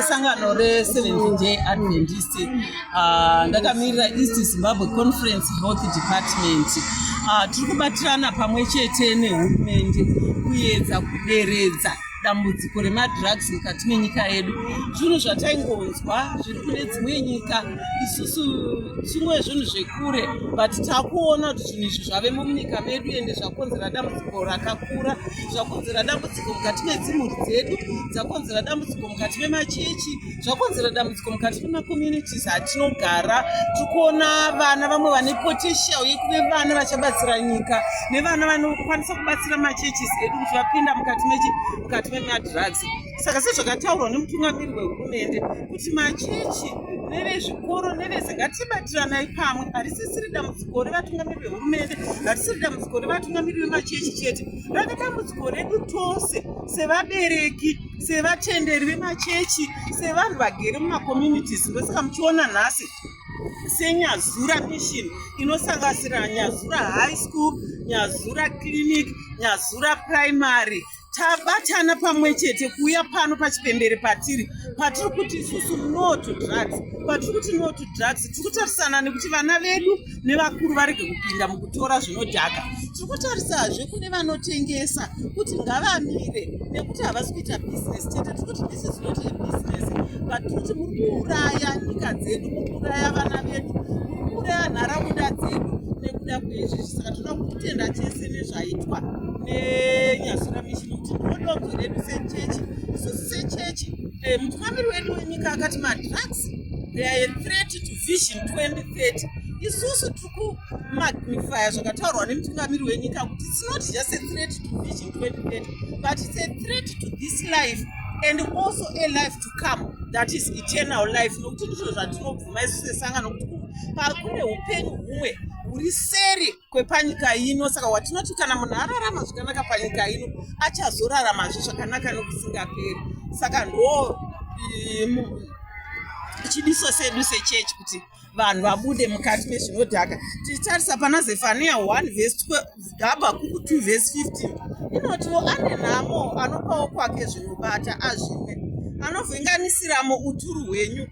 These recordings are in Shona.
sangano reseventh day adventist ah, ndakamirira east zimbabwe conference health department ah, tiri kubatirana pamwe chete nehurumende kuyedza kuderedza dambudziko remadrugs mukati menyika yedu zvinhu zvataingonzwa zviri kune dzimwe nyika isusu zvimwe zvinhu zvekure but takuona kuti zvinhu izvi zvavemo munyika medu ende zvakonzera dambudziko rakakura zvakonzera dambudziko mukati medzimhuri dzedu dzakonzera dambudziko mukati memachechi zvakonzera dambudziko mukati memacomunities atinogara tiri kuona vana vamwe vane potential yekuve vana vachabatsira nyika nevana vanokwanisa kubatsira machurches edu kuti vapinda mukati memadrugs saka sezvakataurwa nemutungamiri wehurumende kuti machechi nevezvikoro nevese ngatibatiranai pamwe harisisiri dambudziko revatungamiri vehurumende harisiri dambudziko revatungamiri vemachechi chete rave dambudziko redu tose sevabereki sevatenderi vemachechi sevanhu vagere mumacomunities ndosaka muchiona nhasi senyazura mission inosangasira nyazura high school nyazura clinic nyazura primary tabatana pamwe chete kuuya pano pachipembere patiri patiri kuti isusu no to drugs patiri kuti no to drugs tiri kutarisana nekuti vana vedu nevakuru varege kupinda mukutora zvinodhaka tiri kutarisazve kune vanotengesa kuti ngavamire nekuti havasi kuita business chete tiri kuti this is not a business but tiri kuti muri kuuraya nyika dzedu muri kuuraya vana vedu muri kuuraya nharaunda dzedu nekuda kweizvi saka tinoda kutenda chese nezvaitwa nenyasura mishini kuti ndodonzo redu sechechi isusu sechechi eh, mutungamiri wedu wenyika akati madrugs they are a threat to vision 2030 isusu tiri kumagnifya zvakataurwa nemutungamiri wenyika kuti its not just a threat to vision 2030 but its a threat to this life and also a life to come that is eternal life nokuti ndizvo zvatinobvuma isu sesangano kuti pakune upenyu humwe huri seri kwepanyika ino saka watinoti kana munhu ararama zvakanaka panyika ino achazoraramazve zvakanaka nokusingaperi saka ndo chidiso sedu sechechi kuti vanhu vabude mukati mezvinodhaka tichitarisa pana zefania 1 vhesi gabakuku 2 vhesi 15 inotiwo ane nhamo anopawo kwake zvinobata azvimwe anovhenganisiramo uturu hwenyu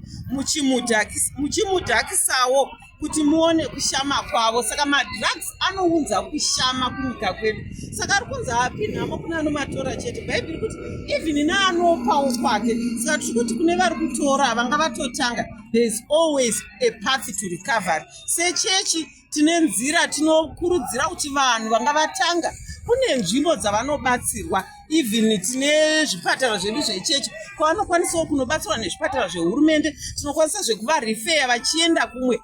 muchimudhakisawo kuti muone kushama kwavo saka madrugs anounza kushama kunyika kwedu saka ari kunzi api nhamo kune anomatora chete bhaibheri kuti even neanopawo kwake saka tiri kuti kune vari kutora vanga vatotanga thereis always a path to recovery sechechi tine nzira tinokurudzira kuti vanhu vanga vatanga kune nzvimbo dzavanobatsirwa even tine zvipatara zvedu zvechechi kwavanokwanisawo kunobatsirwa nezvipatara zvehurumende tinokwanisa zvekuvarifeya vachienda kumwe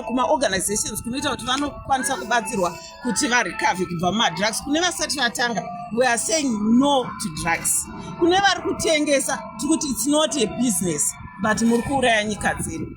kumaorganizations kunoita kuti vanokwanisa kubatsirwa kuti varecover kubva mumadrugs kune vasati vatanga we are saying no to drugs kune vari kutengesa tiri kuti its not a business but muri kuuraya nyika dzedu